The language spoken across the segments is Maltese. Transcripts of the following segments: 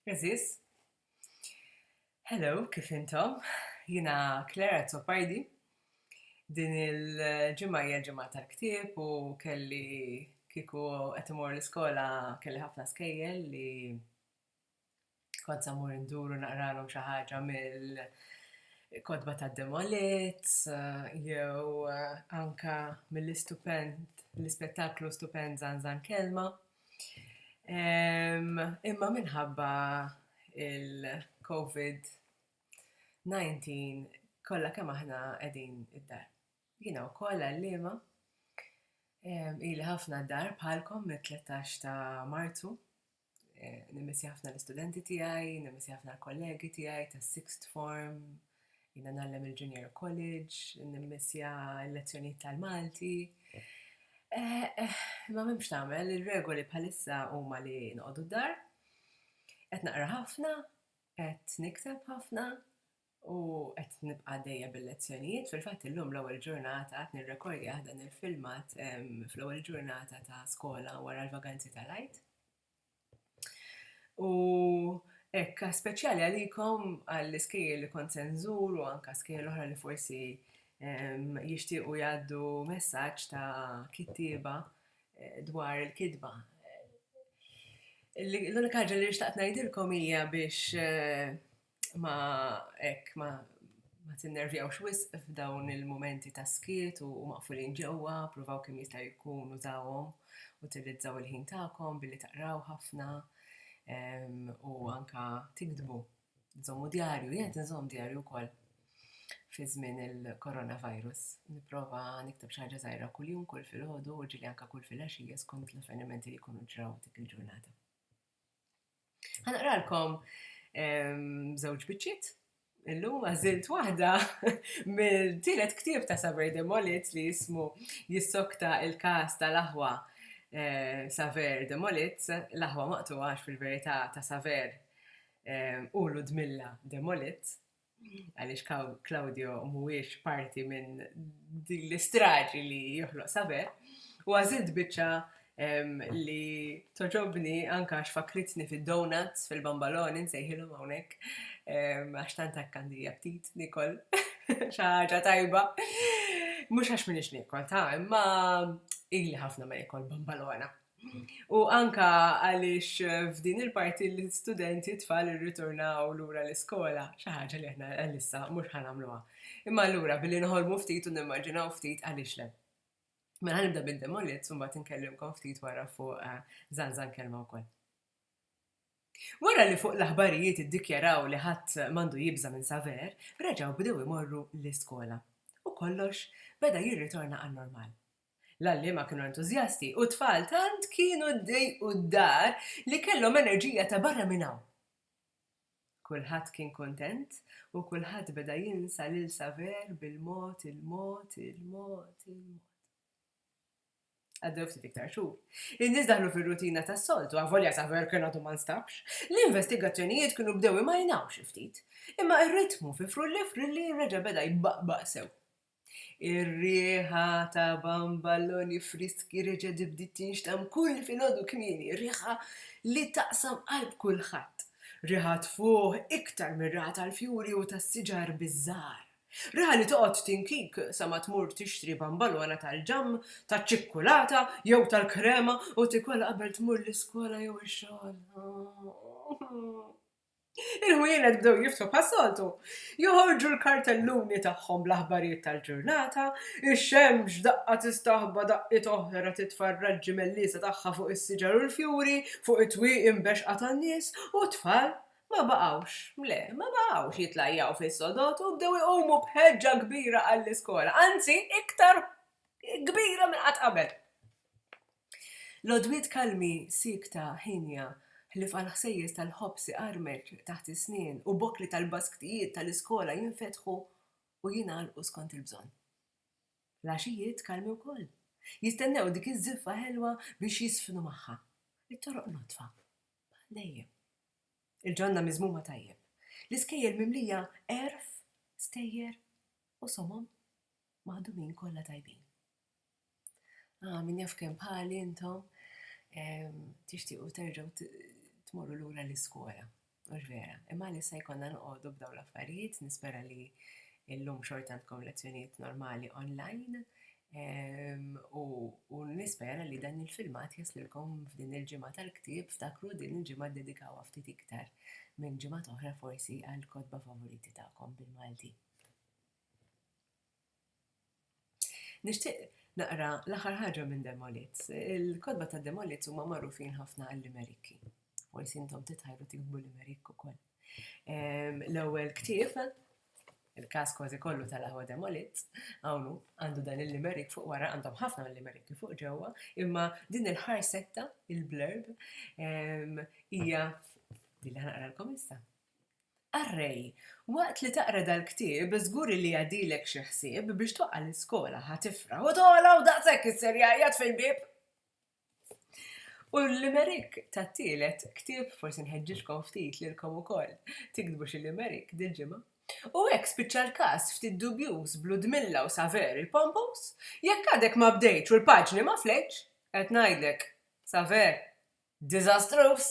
Għażiż. Hello, kif intom? Jiena Claire Azzopardi. Din il-ġimgħa hija l-ġimgħa tal-ktieb u kelli kieku qed imur l-iskola kelli ħafna skejjel li kont se mmur indur u naqralhom xi ħaġa mill-kotba ta' Demolit jew anka mill-istupend, l-ispettaklu stupend Żanżan Kelma. Imma minħabba il-Covid 19 kollha kemm aħna qegħdin id-dar. Jiena wkoll għalliema, ili ħafna d-dar bħalkom mit-tlettax ta' Marzu, nimissja ħafna l-istudenti tiegħi, nimissja ħafna l-kollegi tiegħi tas-sixth form, Jiena ngħallem il-junior college, nimmissja l-lezzjonijiet tal-Malti. Eh, eh, ma m'hemmx tagħmel, ir-regoli bħalissa huma li noqogħdu d-dar. Qed naqra ħafna, qed nikteb ħafna u qed nibqa' għaddejja bil-lezzjonijiet. Fil-fatt illum l-ewwel ġurnata qed nirrekordjah dan il-filmat fl-ewwel ġurnata ta' skola wara l-vaganzi tal-Għid. U hekk speċjali għalikom għall-iskejjel li kont se nżur u anke skejjel oħra li forsi jixtiequ jgħaddu messaġġ ta' kittieba eh, dwar il-kitba. L-unika ħaġa li xtaqt ngħidilkom hija biex eh, ma hekk ma ma tinnervjawx wisq f'dawn il-momenti ta' skiet u maqfulin ġewwa, provaw kemm jista' jkun użawhom, utilizzaw il-ħin tagħkom billi taqraw ħafna u anka tiktbu, żommu djarju, jien qed inżomm djarju wkoll fi żmien il-coronavirus, nipprova nikteb xi ħaġa żgħira kuljum, kull filgħodu u ġieli anka kull filgħaxija skont l-avvenimenti li jkunu ġraw dik il-ġurnata. Ħanaqralkom żewġ biċċiet Illum għażilt waħda mill-tielet ktieb ta' Saver de Molit li jismu jissokta il-każ tal-aħwa eh, Saver de Molit, l-aħwa maqtuħax fil-verità ta' Saver eh, u Ludmilla de Molit. għaliex Claudio mhuwiex parti minn din l-istraġi li joħloq saber, u għażilt biċċa li toġobni anka għax fakritni fid-donuts fil-bambaloni nsejħilhom hawnhekk għax tant għandija ftit nikol xi ħaġa tajba. Mhux għax minix nikol ta' imma ili ħafna ma nikol bambalona. U anke għaliex f'din il-parti l-istudenti tfal irritornaw lura l-iskola, xi ħaġa li aħna għalissa mhux ħa nagħmluha. Imma allura billi noħolmu ftit u nimmaġinaw ftit għaliex le. Mela ħa nibda bid-demolits u mbagħad inkellimkom ftit wara fuq żanżan kelma wkoll. Wara li fuq l-aħbarijiet iddikjaraw li ħadd m'għandu jibża' minn Saver, reġgħu bdew imorru l-iskola. U kollox beda jirritorna għan-normal. L-għalliema kienu entużjasti u t-tfal tant kienu ddejqu d-dar li kellhom enerġija ta' barra minn hawn. Kulħadd kien kuntent u kulħadd beda jinsa lil Saver bil-mod il-mod il-mod il-mod. Għaddew ftit iktar xhur. In-nies daħlu fir-rutina tas-soltu, avolja Saver kien għadu ma nstabx. L-investigazzjonijiet kienu bdew imajnaw xi ftit. Imma r-ritmu fi Frulli Frilli reġa' beda jbaqbaq sew. Ir-riħa ta' bamballoni friski reġgħet bdiet tinxtamm kull filgħodu kmieni, riħa li taqsam qalb kulħadd. Riħa tfuħ iktar mir-riħa tal-fjuri u tas-siġar biż-żahar. Riħa li toqgħod tinkik sa ma tmur tixtri bambalona tal-ġamm, taċ-ċikkulata jew tal-krema u tikolha qabel tmur l-iskola jew ix-xogħol. Il-ħwienet bdew jiftħu bħas-soltu. Joħorġu l-kartelluni tagħhom bl-aħbarijiet tal-ġurnata, ix-xemx daqqa tistaħba daqqiet oħra titfa' r-raġġi melliesa tagħha fuq is-siġar u l-fjuri, fuq it-twieqi mbexxqa tan-nies, u t-tfal ma baqgħux, le, ma baqgħux jitlajjaw fis-sodod u bdew iqumu b'ħeġġa kbira għall-iskola, anzi, iktar kbira minn qatt qabel. L-għodwiet kalmi, siekta, hienja, ħlief għall-ħsejjes tal-ħobż iqarmeċ taħt is-snien u bokli tal-basktijiet tal-iskola jinfetħu u jingħalqu skont il-bżonn. L-għaxijiet kalmi wkoll, jistennew dik iż-żiffa ħelwa biex jiżfnu magħha. It-toroq nodfa, bħal dejjem. Il-ġonna miżmuma tajjeb. L-iskejjel mimlija għerf, stejjer u somom maħdumin kollha tajbin. Ah, min jaf kemm bħali intom tixtiequ terġgħu tmorru lura l-iskola, mhux vera? Imma għalissa jkollna noqogħdu b'dawn l-affarijiet, nispera li illum xorta għandkom lezzjonijiet normali onlajn u nispera li dan il-filmat jaslilkom f'din il-ġimgħa tal-ktieb, ftakru din il-ġimgħa ddedikawha ftit iktar minn ġimgħat oħra forsi għall-kotba favoriti tagħkom bil-Malti. Nixtieq naqra l-aħħar ħaġa minn Demolits. Il-kotba ta' Demolits huma magħrufin ħafna għall-limerikki. Forsi intom titħajru tiktbu limerikk ukoll. Ehm, l-ewwel ktieb, il-każ kważi kollu tal-aħwa Demolits, hawn għandu dan il-limerik fuq wara, għandhom ħafna mill-limerikki fuq ġewwa, imma din il-ħarsetta, il-blurb, ehm, hija li ħanaqralkom issa. Array, Waqt li taqra dal-ktieb, żgur illi jgħaddilek xi ħsieb biex twaqqa' l-iskola, ħa tifraħ u togħla u daqshekk isser jgħajjat fil-bieb! U l-limerick tat-tielet ktieb, forsi nħeġġiġkom ftit lilkom ukoll tiktbu xi limerick dil-ġimgħa. U hekk spiċċa l-każ ftit dubjuż b'Ludmilla u Saver il-pompous, Jekk għadek ma bdejtx u l-paġni ma flejtx, qed ngħidlek, Saver! diżastruż.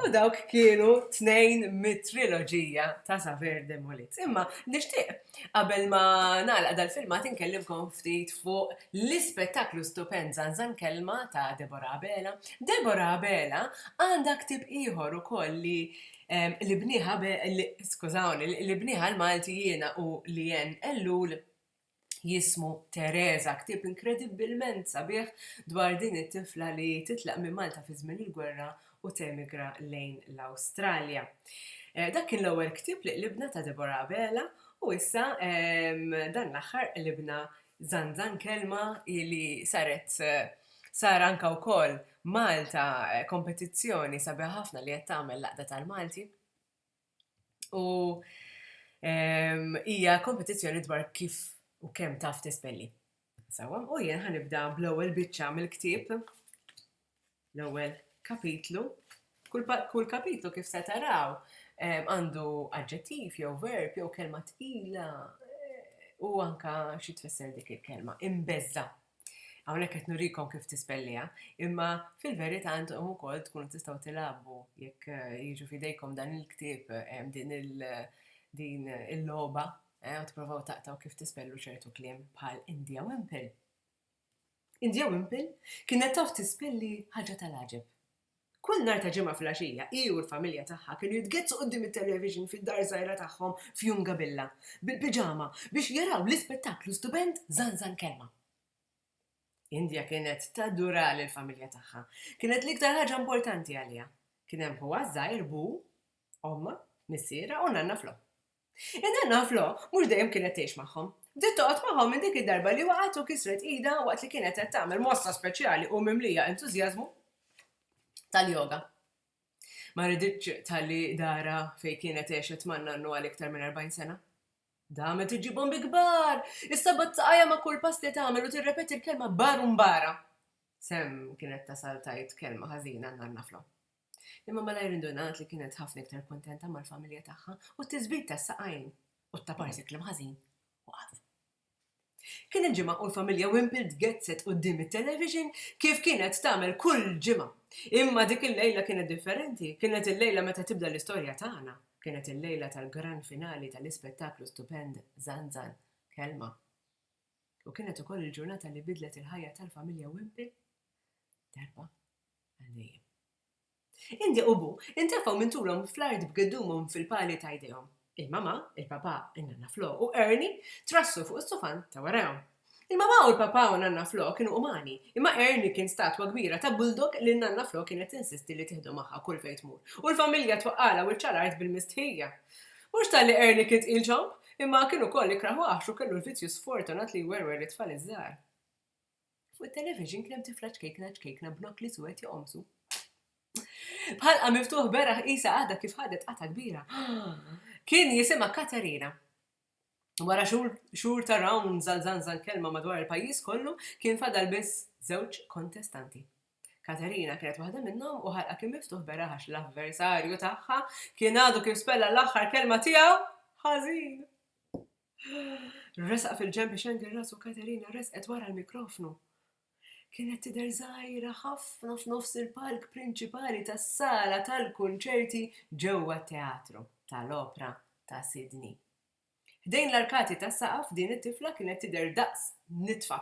U dawk kienu tnejn mit-triloġija ta' Saver Demolit. Imma nixtieq qabel ma nagħlaq dal-filmat inkellimkom ftit fuq l-ispettaklu stupend Zanzan Kelma ta' Deborah Abela. Deborah Abela għandha ktieb ieħor ukoll li li bnieha skużawni, li bnieha l-Malti jiena u Leanne Ellul jismu Teresa, ktieb inkredibbilment sabiħ dwar din it-tifla li titlaq minn Malta fi żmien il-gwerra u temigra lejn l-Awstralja. Eh, dak kien l-ewwel ktieb li qlibna ta' Deborah Abela u issa ehm, dan l-aħħar qlibna Zanzan Kelma li saret eh, sar anka wkoll Malta eh, kompetizzjoni sabiħ ħafna li qed tagħmel laqda tal-Malti. U hija kompetizzjoni dwar kif u kemm taf tispelli. Sewwa, u jien ħanibda bl-ewwel biċċa mill-ktieb, l-ewwel kapitlu. Kull kapitlu kif se taraw għandu aġġettiv jew verb jew kelma tqila u anka xi tfisser dik il-kelma, imbeżża'. Hawnhekk qed nurikom kif tispelliha, imma fil-verità intom ukoll tkunu tistgħu tilagħbu jekk eh, jiġu fidejkom dan il-ktieb eh, din il- din il-logħba eh, u tipprovaw taqtaw kif tispellu ċertu kliem bħal India Wimple. India Wimple kienet taf tispelli ħaġa tal-għaġeb. Kull nhar ta' Ġimgħa filgħaxija hi u l-familja tagħha kienu jitgheddsu quddiem it-television fid-dar żgħira tagħhom f'Jungabilla, bil-piġama, biex jaraw l-ispettaklu stupend Zanzan Kelma. India kienet tadura lill-familja tagħha. Kienet l-iktar ħaġa importanti għaliha. Kien hemm ħuha ż-żgħir, Bu, Ommha, Missierha u Nanna Flo. In-nanna Flo mhux dejjem kienet tgħix magħhom. Bdiet toqgħod magħhom minn dik id-darba li waqgħet u kisret idha waqt li kienet qed tagħmel mossa speċjali u mimlija entużjażmu tal-yoga. Ma riditx tħalli darha fejn kienet għexet man-nannu għal iktar minn 40 sena. Damet iġibhom bi kbar! Is-sabat saqajja ma' kull pass li tagħmel u tirrepeti l-kelma bar u mbara. Sam kienet tasal tajt kelma ħażina għan-nanna Flo. Imma malajr indunat li kienet ħafna iktar kuntenta mal-familja tagħha u t-tiżbid tas-saqajn u t-taparsi kliem ħażin waqaf. Kien il-ġimgħa u l-familja Wimple tgezzet quddiem it-television kif kienet tagħmel kull ġimgħa. Imma dik il-lejla kienet differenti, kienet il-lejla meta tibda l-istorja tagħna. Kienet il-lejla tal-gran finali tal-ispettaklu stupend Zanzan, Kelma. U kienet ukoll il-ġurnata li bidlet il-ħajja tal-familja Wimple darba Indi u Bu intefgħu minn tulhom fl-art b'giddumhom fil-pali ta' jdejhom. Il-Mamà, il-Papà, in-Nanna Flo u Ernie trassu fuq is-sufan ta' warajhom. Il-Mamà u l-Papà u n-Nanna Flo kienu umani, imma Ernie kien statwa kbira ta' bulldog li n-Nanna Flo kienet tinsisti li tieħdu magħha kull fejn tmur u l-familja twaqqagħlha wiċċha l-art bil-mistħija. Mhux talli Ernie kien tqil ċomb, imma kien ukoll ikrah waħx u kellu l-vizzju sfortunat li jwerwer lit-tfal iż-żgħar. Fuq it-television kien hemm tifla ċkejkna ċkejkna b'nokli suwed joqomsu. B'ħalqha miftuħ beraħ qisha għadha kif ħadet qatgħa kbira. Kien jisimha Katerina. Wara xhur ta' rounds għal żanżan kelma madwar il-pajjiż kollu, kien fadal biss żewġ kontestanti. Katerina kienet waħda minnhom u ħalqha kien miftuħ beraħ għax l-avversarju tagħha kien għadu kif spella l-aħħar kelma tiegħu ħażin. Resaq fil-ġenb biex jgħangel rasu Katerina resqet wara l-mikrofnu. Kienet tidher żgħira ħafna f'nofs il-palk prinċipali tas-sala tal-kunċerti ġewwa t-Teatru tal-Opra ta' Sydney. Ħdejn l-arkati tas-saqaf din it-tifla kienet tidher daqs nitfa.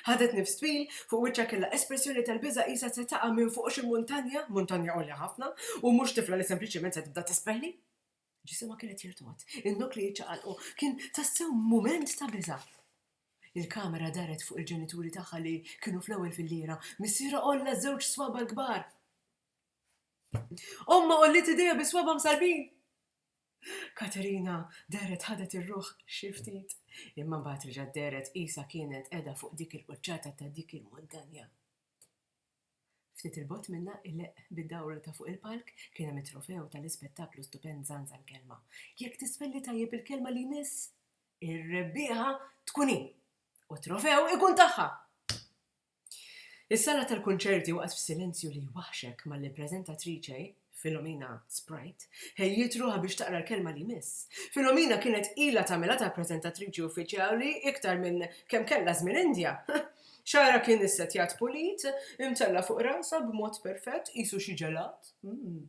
Ħadet nifs twil, fuq wiċċha kellha espressjoni tal-biża' qisha se taqa' minn fuq xi muntanja, muntanja għolja ħafna, u mhux tifla li sempliċement se tibda tispeħli. Ġisimha kien qed jirtogħod. In-nukli ċċaqalqu. Kien tassew mument ta' biża'. Il-kamera daret fuq il-ġenituri tagħha li kienu fl-ewwel filliera. Missierha għolla żewġ swaba' l-kbar. Ommha għolliet idejha bi swaba' msallbin. Katerina dehret ħadet ir-ruħ xi ftit, imma mbagħad reġgħet dehret qisha kienet qiegħda fuq dik il-quċċata ta' dik il-muntanja. Ftit 'il bogħod minnha, ileqq bid-dawra ta' fuq il-palk, kien hemm it-trofew tal-ispettaklu stupend Żanża l-Kelma. Jekk tisfelli tajjeb il-kelma li jmiss, ir-rebbieħa tkun hi! U t-trofew ikun tagħha! Is-sala tal-kunċerti waqgħet f'silenzju li jwaħħxek malli l-preżentatriċe, Filomena Sprite, ħejjiet ruħha biex taqra l-kelma li jmiss. Filomena kienet ilha tagħmilha ta' preżentatriċi uffiċjali iktar minn kemm kellha żmien indja. Xagħarha kien issettjat pulit, imtella' fuq rasha b'mod perfett, qisu xi ġelat, mm,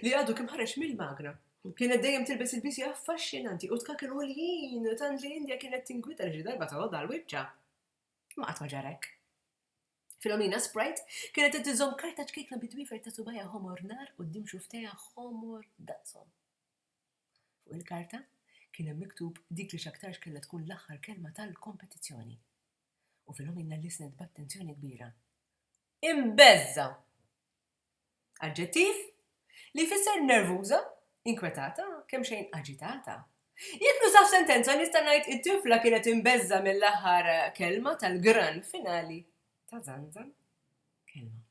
li għadu kemm ħareġ mill-magna. Kienet dejjem tilbes ilbiesi affaxxinanti u tkaken għoljin, tant li Indja kienet tinkwieta li xi darba tgħoddha l-wiċċa. Imma qatt ma ġara hekk. Filomena Sprite kienet qed iżomm karta ċkejkna bi dwiefer ta' subajha ħomor nar quddiem xufftejha ħomor daqshom. Fuq il-karta kien hemm miktub dik li x'aktarx kellha tkun l-aħħar kelma tal-kompetizzjoni. U Filomena listenet b'attenzjoni kbira. Imbeżża'! Aġġettiv, li jfisser nervuża, inkwetata, kemxejn aġitata. Jekk nuża f'sentenza nista' ngħid it-tifla kienet imbeżża' mill-aħħar kelma tal-gran finali ta' Zanzan. Kelma.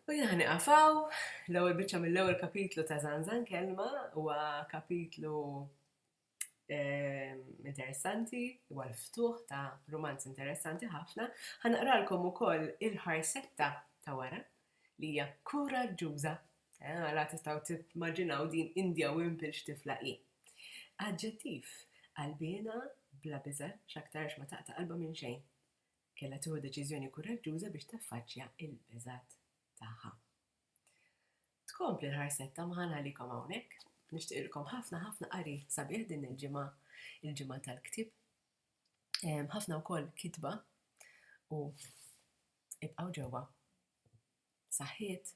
U jien ħani qafaw, l-ewwel biċċa mill-ewwel kapitlu ta' Zanzan kelma huwa kapitlu ehm, interessanti, huwa l-ftuħ ta' romanz interessanti ħafna. Ħanaqralkom ukoll il-ħarsetta ta' wara li hija kuraġġuża. Eh, għala tistgħu timmaġinaw din Indja Wimpil x'tifla hi. Aġġettiv qalbiena bla biża x'aktarx ma taqta' qalba minn xejn. Kella tieħu deċiżjoni kuraġġuża biex taffaċċja il-biżat tagħha. Tkompli l-ħarset ta' Mħann għalikom hawnhekk. Nixtieqilkom ħafna ħafna qari sabiħ din il-ġimgħa, il-ġimgħa tal-ktieb. Ħafna wkoll kitba u ibqgħu ġewwa. Saħħiet!